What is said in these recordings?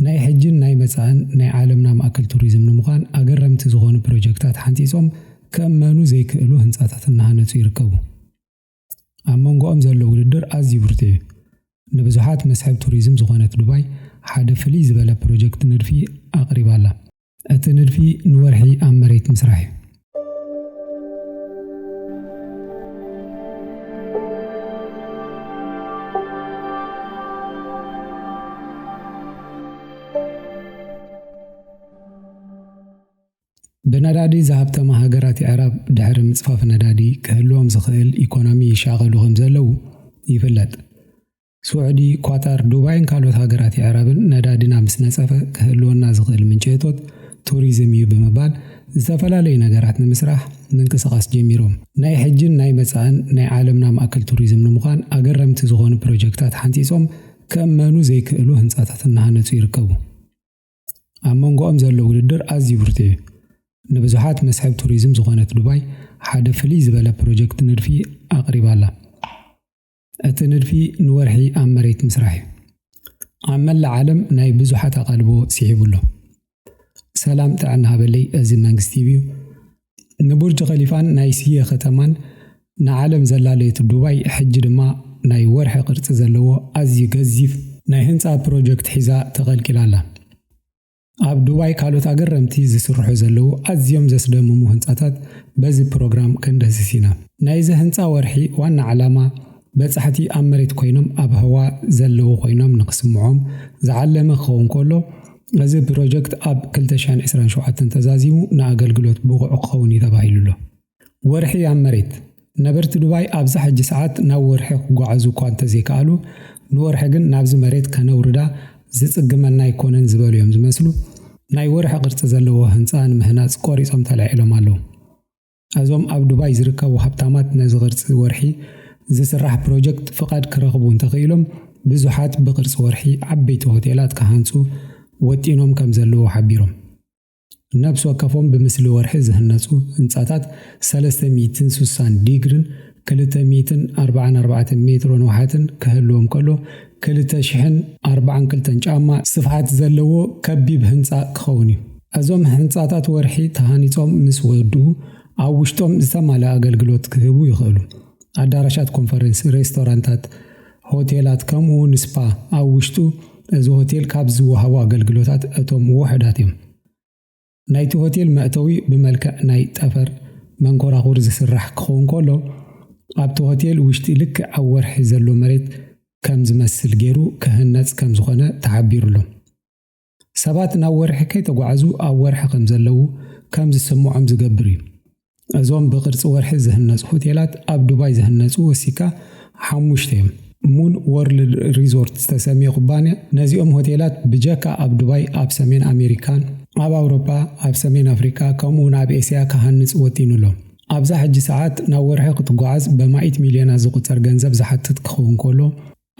ናይ ሕጂን ናይ መጻእን ናይ ዓለምና ማእከል ቱሪዝም ንምዃን ኣገረምቲ ዝኾኑ ፕሮጀክታት ሓንጺጾም ክእመኑ ዘይክእሉ ህንጻታት እናሃነጹ ይርከቡ። ኣብ መንጎኦም ዘሎ ውድድር ኣዝዩ ብርቱዕ እዩ። ንብዙሓት መስሕብ ቱሪዝም ዝኾነት ዱባይ ሓደ ፍልይ ዝበለ ፕሮጀክት ንድፊ ኣቕሪባ'ላ። እቲ ንድፊ ንወርሒ ኣብ መሬት ምስራሕ እዩ። ብነዳዲ ዝሃብተማ ሃገራት የዕራብ ድሕሪ ምፅፋፍ ነዳዲ ክህልዎም ዝኽእል ኢኮኖሚ ይሻቐሉ ከምዘለዉ ይፍለጥ። ስዑዲ፣ ኳታር፣ ዱባይን ካልኦት ሃገራት የዕራብን ነዳዲና ምስ ነፀፈ ክህልወና ዝኽእል ምንጪ እቶት ቱሪዝም እዩ ብምባል ዝተፈላለዩ ነገራት ንምስራሕ ምንቅስቓስ ጀሚሮም። ናይ ሕጂን ናይ መፃእን ናይ ዓለምና ማእከል ቱሪዝም ንምዃን ኣገረምቲ ዝኾኑ ፕሮጀክታት ሓንፂፆም ክእመኑ ዘይክእሉ ህንፃታት እናሃነፁ ይርከቡ። ኣብ መንጎኦም ዘሎ ውድድር ኣዝዩ ብርቱዕ እዩ። ንብዙሓት መስሕብ ቱሪዝም ዝኾነት ዱባይ ሓደ ፍልይ ዝበለ ፕሮጀክት ንድፊ ኣቕሪባ'ላ። እቲ ንድፊ ንወርሒ ኣብ መሬት ምስራሕ እዩ። ኣብ መላእ ዓለም ናይ ብዙሓት ኣቓልቦ ስሒቡ ኣሎ። ሰላም ጥዕና ሃበለይ እዚ መንግስት ቲቪ እዩ። ንቡርጅ ኸሊፋን ናይ ስየ ከተማን ንዓለም ዘላለየት ዱባይ ሕጂ ድማ ናይ ወርሒ ቅርጺ ዘለዎ ኣዝዩ ገዚፍ ናይ ህንጻ ፕሮጀክት ሒዛ ተቐልቂላ ኣላ። ኣብ ዱባይ ካልኦት ኣገረምቲ ዝስርሑ ዘለዉ ኣዝዮም ዘስደምሙ ህንጻታት በዚ ፕሮግራም ክንድህስስ ኢና። ናይዚ ህንጻ ወርሒ ዋና ዕላማ በጻሕቲ ኣብ መሬት ኮይኖም ኣብ ህዋ ዘለዉ ኮይኖም ንክስምዖም ዝዓለመ ክኸውን ከሎ እዚ ፕሮጀክት ኣብ ክልተ ሺሕን ዕስራን ሸውዓተን ተዛዚሙ ንኣገልግሎት ብቑዕ ክኸውን እዩ ተባሂሉ'ሎ። ወርሒ ኣብ መሬት! ነበርቲ ዱባይ ኣብዛ ሕጂ ሰዓት ናብ ወርሒ ክጓዓዙ እኳ እንተዘይከኣሉ፣ ንወርሒ ግን ናብዚ መሬት ከነውርዳ ዝጽግመና ኣይኮነን ዝበሉ እዮም ዝመስሉ። ናይ ወርሒ ቅርጺ ዘለዎ ህንጻ ንምህናጽ ቆሪጾም ተላዒሎም ኣለዉ። እዞም ኣብ ዱባይ ዝርከቡ ሃብታማት ነዚ ቅርጺ ወርሒ ዝስራሕ ፕሮጀክት ፍቓድ ክረኽቡ እንተኽኢሎም ብዙሓት ብቅርጺ ወርሒ ዓበይቲ ሆቴላት ክሃንጹ ወጢኖም ከምዘለዉ ሓቢሮም። ነብሲ ወከፎም ብምስሊ ወርሒ ዝህነፁ ህንፃታት ሰለስተ ሚእትን ስሳን ዲግርን ክልተ ሚእትን ኣርባዓን ኣርባዕተን ሜትሮ ንውሓትን ክህልዎም ከሎ ክልተ ሽሕን ኣርባዓን ክልተን ጫማ ስፍሓት ዘለዎ ከቢብ ህንፃ ክኸውን እዩ። እዞም ህንፃታት ወርሒ ተሃኒፆም ምስ ወድኡ ኣብ ውሽጦም ዝተማልኣ ኣገልግሎት ክህቡ ይኽእሉ። ኣዳራሻት ኮንፈረንስ፣ ሬስቶራንታት፣ ሆቴላት ከምኡ ውን ስፓ ኣብ ውሽጡ እዚ ሆቴል ካብ ዝወሃቡ ኣገልግሎታት እቶም ውሑዳት እዮም። ናይቲ ሆቴል መእተዊ ብመልክዕ ናይ ጠፈር መንኮራኹር ዝስራሕ ክኸውን ከሎ ኣብቲ ሆቴል ውሽጢ ልክዕ ኣብ ወርሒ ዘሎ መሬት ከም ዝመስል ጌሩ ክህነጽ ከም ዝኾነ ተሓቢሩሎም። ሰባት ናብ ወርሒ ከይተጓዕዙ ኣብ ወርሒ ከም ዘለዉ ከም ዝስምዖም ዝገብር እዩ። እዞም ብቅርጺ ወርሒ ዝህነጹ ሆቴላት ኣብ ዱባይ ዝህነጹ ወሲካ ሓሙሽተ እዮም። ሙን ዎርልድ ሪዞርት ዝተሰምየ ኩባንያ ነዚኦም ሆቴላት ብጀካ ኣብ ዱባይ ኣብ ሰሜን ኣሜሪካን፣ ኣብ ኣውሮጳ፣ ኣብ ሰሜን ኣፍሪቃ ከምኡ'ውን ኣብ ኤስያ ክሃንጽ ወጢኑ ኣሎ። ኣብዛ ሕጂ ሰዓት ናብ ወርሒ ክትጓዓዝ በማኢት ሚልዮናት ዝቁጸር ገንዘብ ዝሓትት ክኸውን ከሎ፣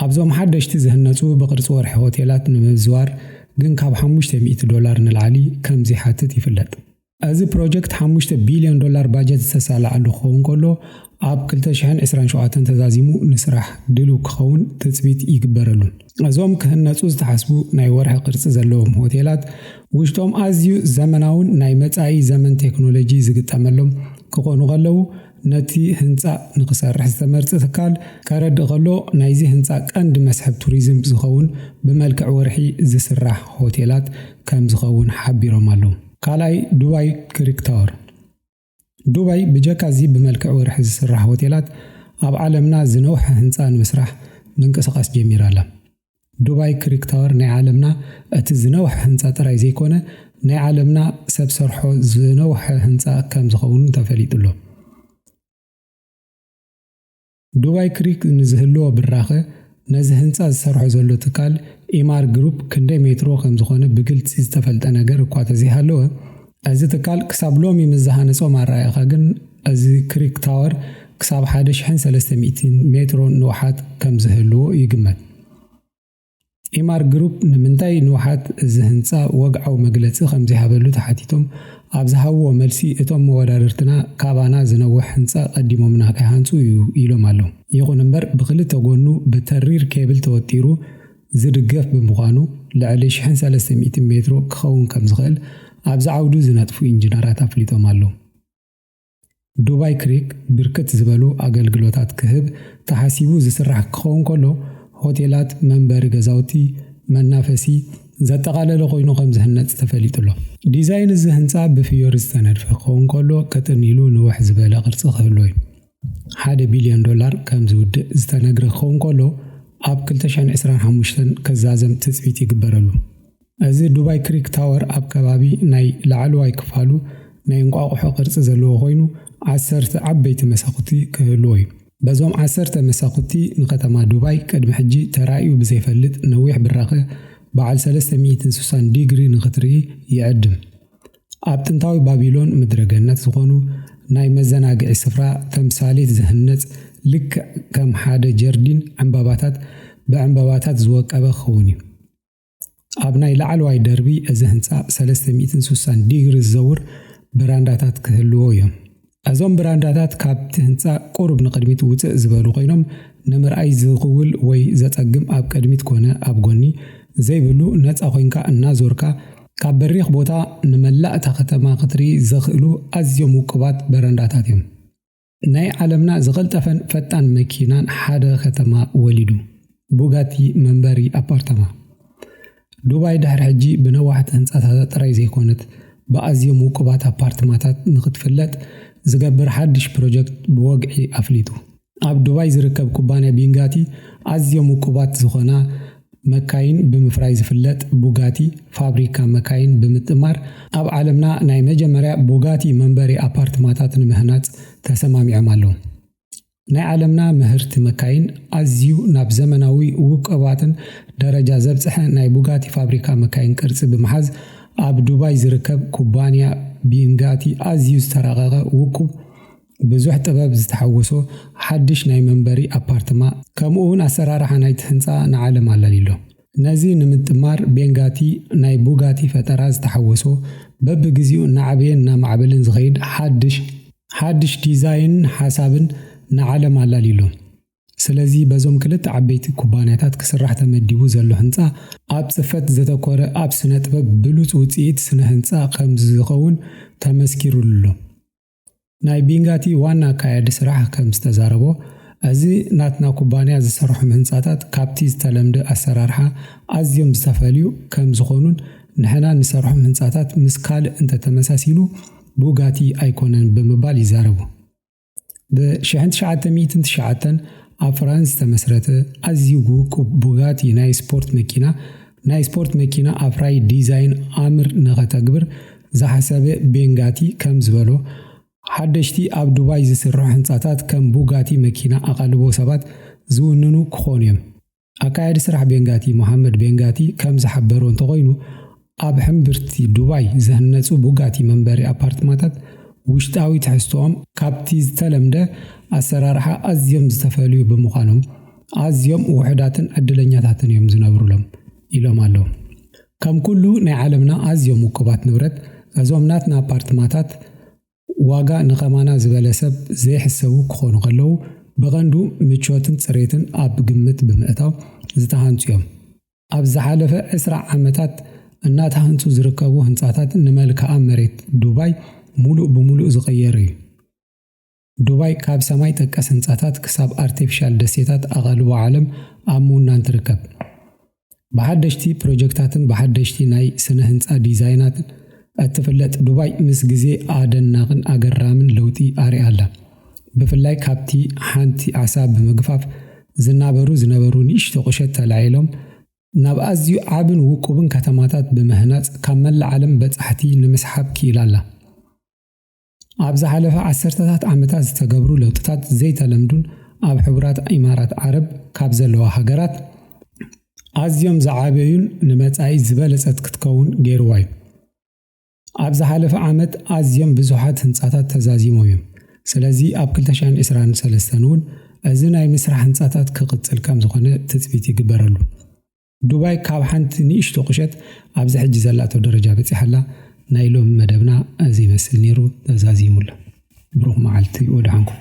ኣብዞም ሓደሽቲ ዝህነፁ ብቕርፂ ወርሒ ሆቴላት ንምምዝዋር ግን ካብ ሓሙሽተ ሚእቲ ዶላር ንላዕሊ ከም ዘይሓትት ይፍለጥ። እዚ ፕሮጀክት ሓሙሽተ ቢልዮን ዶላር ባጀት ዝተሳለዐሉ ክኸውን ከሎ ኣብ ክልተ ሽሕን ዕስራን ሸውዓተን ተዛዚሙ ንስራሕ ድልው ክኸውን ትፅቢት ይግበረሉን። እዞም ክህነፁ ዝተሓስቡ ናይ ወርሒ ቅርፂ ዘለዎም ሆቴላት ውሽጦም ኣዝዩ ዘመናውን ናይ መፃኢ ዘመን ቴክኖሎጂ ዝግጠመሎም ክኾኑ ከለው ነቲ ህንጻ ንክሰርሕ ዝተመርጸ ትካል ከረድእ ከሎ ናይዚ ህንጻ ቀንዲ መስሕብ ቱሪዝም ዝኸውን ብመልክዕ ወርሒ ዝስራሕ ሆቴላት ከምዝኸውን ሓቢሮም ኣለው። ካልኣይ ዱባይ ክሪክ ታወር። ዱባይ ብጀካ እዚ ብመልክዕ ወርሒ ዝስራሕ ሆቴላት ኣብ ዓለምና ዝነውሐ ህንጻ ንምስራሕ ምንቅስቓስ ጀሚራ ኣላ። ዱባይ ክሪክ ታወር ናይ ዓለምና እቲ ዝነውሐ ህንፃ ጥራይ ዘይኮነ ናይ ዓለምና ሰብ ሰርሖ ዝነውሐ ህንፃ ከም ዝኸውን ተፈሊጡሎ። ዱባይ ክሪክ ንዝህልዎ ብራኸ ነዚ ህንፃ ዝሰርሖ ዘሎ ትካል ኢማር ግሩፕ ክንደይ ሜትሮ ከም ዝኾነ ብግልፂ ዝተፈልጠ ነገር እኳ ተዘይሃለወ እዚ ትካል ክሳብ ሎሚ ምስ ዝሃነጾም ኣረኣኢኻ ግን እዚ ክሪክ ታወር ክሳብ ሓደ ሽሕን ሰለስተ ሚእቲን ሜትሮን ንውሓት ከም ዝህልዎ ይግመት። ኢማር ግሩፕ ንምንታይ ንውሓት እዚ ህንጻ ወግዓዊ መግለጺ ከም ዘይሃበሉ ተሓቲቶም ኣብ ዝሃብዎ መልሲ እቶም መወዳድርትና ካባና ዝነውሕ ህንጻ ቀዲሞምና ከይሃንጹ እዩ ኢሎም ኣለው። ይኹን እምበር ብኽልተ ጎኑ ብተሪር ኬብል ተወጢሩ ዝድገፍ ብምዃኑ ልዕሊ ሽሕን ሰለስተ ሚእትን ሜትሮ ክኸውን ከምዝኽእል ኣብዚ ዓውዱ ዝነጥፉ ኢንጂነራት ኣፍሊጦም ኣለው። ዱባይ ክሪክ ብርክት ዝበሉ ኣገልግሎታት ክህብ ተሓሲቡ ዝስራሕ ክኸውን ከሎ ሆቴላት፣ መንበሪ ገዛውቲ፣ መናፈሲ ዘጠቓለለ ኮይኑ ከምዝህነፅ ተፈሊጡ'ሎ። ዲዛይን እዚ ህንፃ ብፍዮሪ ዝተነድፈ ክኸውን ከሎ ቀጥን ኢሉ ንውሕ ዝበለ ቅርፂ ክህልዎ እዩ። ሓደ ቢልዮን ዶላር ከም ዝውድእ ዝተነግረ ክኸውን ከሎ ኣብ ክልተ ሽሕን ዕስራን ሓሙሽተን ክዛዘም ትጽቢት ይግበረሉ። እዚ ዱባይ ክሪክ ታወር ኣብ ከባቢ ናይ ላዕለዋይ ክፋሉ ናይ እንቋቑሖ ቅርጺ ዘለዎ ኮይኑ ዓሰርተ ዓበይቲ መሳኹቲ ክህልዎ እዩ። በዞም ዓሰርተ መሳኹቲ ንከተማ ዱባይ ቅድሚ ሕጂ ተራእዩ ብዘይፈልጥ ነዊሕ ብራኸ በዓል ሰለስተ ሚእትን ስሳን ዲግሪ ንኽትርኢ ይዕድም። ኣብ ጥንታዊ ባቢሎን ምድረ ገነት ዝኾኑ ናይ መዘናግዒ ስፍራ ተምሳሌት ዝህነጽ ልክዕ ከም ሓደ ጀርዲን ዕምባባታት ብዕምባባታት ዝወቀበ ክኸውን እዩ። ኣብ ናይ ላዕለዋይ ደርቢ እዚ ህንጻ ሰለስተ ሚእትን ስሳን ዲግሪ ዝዘውር በራንዳታት ክህልዎ እዮም። እዞም ብራንዳታት ካብቲ ህንጻ ቁሩብ ንቕድሚት ውጽእ ዝበሉ ኮይኖም ንምርኣይ ዝኽውል ወይ ዘጸግም ኣብ ቅድሚት ኮነ ኣብ ጎኒ ዘይብሉ ነጻ ኮይንካ እናዞርካ ካብ በሪኽ ቦታ ንመላእ እታ ከተማ ክትርኢ ዘኽእሉ ኣዝዮም ውቁባት በረንዳታት እዮም። ናይ ዓለምና ዝቐልጠፈን ፈጣን መኪናን ሓደ ከተማ ወሊዱ። ቡጋቲ መንበሪ ኣፓርታማ። ዱባይ ድሕሪ ሕጂ ብነዋሕቲ ህንጻታታ ጥራይ ዘይኮነት፣ ብኣዝዮም ውቁባት ኣፓርትማታት ንኽትፍለጥ ዝገብር ሓድሽ ፕሮጀክት ብወግዒ ኣፍሊጡ። ኣብ ዱባይ ዝርከብ ኩባንያ ቢንጋቲ፣ ኣዝዮም ውቁባት ዝኾና መካይን ብምፍራይ ዝፍለጥ ቡጋቲ ፋብሪካ መካይን ብምጥማር፣ ኣብ ዓለምና ናይ መጀመርያ ቡጋቲ መንበሪ ኣፓርትማታት ንምህናጽ ተሰማሚዖም ኣለዉ። ናይ ዓለምና ምህርቲ መካይን ኣዝዩ ናብ ዘመናዊ ውቁባትን ደረጃ ዘብጽሐ ናይ ቡጋቲ ፋብሪካ መካይን ቅርጺ ብምሓዝ ኣብ ዱባይ ዝርከብ ኩባንያ ቢንጋቲ ኣዝዩ ዝተራቐቐ ውቁብ ብዙሕ ጥበብ ዝተሓወሶ ሓድሽ ናይ መንበሪ ኣፓርትማ ከምኡውን ኣሰራርሓ ናይቲ ህንጻ ንዓለም ኣላልዩ'ሎ። ነዚ ንምጥማር ቤንጋቲ ናይ ቡጋቲ ፈጠራ ዝተሓወሶ በብግዚኡ እናዓበየን እናማዕበለን ዝኸይድ ሓድሽ ሓድሽ ዲዛይንን ሓሳብን ንዓለም ኣላልዩ ኣሎ። ስለዚ በዞም ክልተ ዓበይቲ ኩባንያታት ክስራሕ ተመዲቡ ዘሎ ህንፃ ኣብ ፅፈት ዘተኮረ ኣብ ስነጥበብ ብሉፅ ውፅኢት ስነህንፃ ከምዝኸውን ተመስኪሩሉ ኣሎ። ናይ ቢንጋቲ ዋና ኣካያዲ ስራሕ ከምዝተዛረቦ፣ እዚ ናትና ኩባንያ ዝሰርሖም ህንፃታት ካብቲ ዝተለምደ ኣሰራርሓ ኣዝዮም ዝተፈልዩ ከምዝኾኑን ንሕና ንሰርሖም ህንፃታት ምስ ካልእ እንተተመሳሲሉ ቡጋቲ ኣይኮነን ብምባል ይዛረቡ። ብ ሽሕን ትሽዓተ ሚእትን ትሽዓተን ኣብ ፍራንስ ዝተመስረተ ኣዝዩ ውቁብ ቡጋቲ ናይ ስፖርት መኪና ናይ ስፖርት መኪና ኣፍራዪ ዲዛይን ኣምር ንኸተግብር ዝሓሰበ ቤን ጋቲ ከም ዝበሎ፣ ሓደሽቲ ኣብ ዱባይ ዝስርሑ ህንጻታት ከም ቡጋቲ መኪና ኣቓልቦ ሰባት ዝውንኑ ክኾኑ'ዮም። ኣካያዲ ስራሕ ቤን ጋቲ ሞሃመድ ቤን ጋቲ ከም ዝሓበሮ እንተኾይኑ፣ ኣብ ሕምብርቲ ዱባይ ዝህነጹ ቡጋቲ መንበሪ ኣፓርትማታት ውሽጣዊ ትሕዝቶኦም ካብቲ ዝተለምደ ኣሰራርሓ ኣዝዮም ዝተፈልዩ ብምዃኖም ኣዝዮም ውሑዳትን ዕድለኛታትን'ዮም ዝነብሩሎም ኢሎም ኣለው። ከም ኩሉ ናይ ዓለምና ኣዝዮም ውቁባት ንብረት፣ እዞም ናትና ኣፓርትማታት ዋጋ ንከማና ዝበለ ሰብ ዘይሕሰቡ ክኾኑ ከለዉ፣ ብቐንዱ ምቾትን ጽሬትን ኣብ ግምት ብምእታው ዝተሃንጹ እዮም። ኣብ ዝሓለፈ ዕስራ ዓመታት እናተሃንጹ ዝርከቡ ህንጻታት ንመልክኣ መሬት ዱባይ ምሉእ ብምሉእ ዝቐየረ እዩ። ዱባይ ካብ ሰማይ ጠቀስ ህንጻታት ክሳብ ኣርቲፊሻል ደሴታት ኣቓልቦ ዓለም ኣብ ምውናን ትርከብ። ብሓደሽቲ ፕሮጀክታትን ብሓደሽቲ ናይ ስነ ህንጻ ዲዛይናትን እትፍለጥ ዱባይ ምስ ግዜ ኣደናቕን ኣገራምን ለውጢ ኣርያ ኣላ። ብፍላይ ካብቲ ሓንቲ ዓሳ ብምግፋፍ ዝናበሩ ዝነበሩ ንእሽቶ ቁሸት ተላዒሎም ናብ ኣዝዩ ዓብን ውቁብን ከተማታት ብምህናጽ ካብ መላእ ዓለም በጻሕቲ ንምስሓብ ክኢላ ኣላ። ኣብ ዝሓለፈ ዓሰርተታት ዓመታት ዝተገብሩ ለውጥታት ዘይተለምዱን ኣብ ሕቡራት ኢማራት ዓረብ ካብ ዘለዋ ሃገራት ኣዝዮም ዝዓበዩን ንመጻኢ ዝበለጸት ክትከውን ገይርዋ እዩ። ኣብ ዝሓለፈ ዓመት ኣዝዮም ብዙሓት ህንጻታት ተዛዚሞም እዮም። ስለዚ ኣብ 2023 እውን እዚ ናይ ምስራሕ ህንጻታት ክቕጽል ከም ዝኾነ ትጽቢት ይግበረሉ። ዱባይ ካብ ሓንቲ ንእሽቶ ቁሸት ኣብዚ ሕጂ ዘላቶ ደረጃ በጺሓ ኣላ። ናይ ሎሚ መደብና እዚ ይመስል ነይሩ ተዛዚሙ ኣሎ። ብሩኽ መዓልቲ ወደሓንኩም።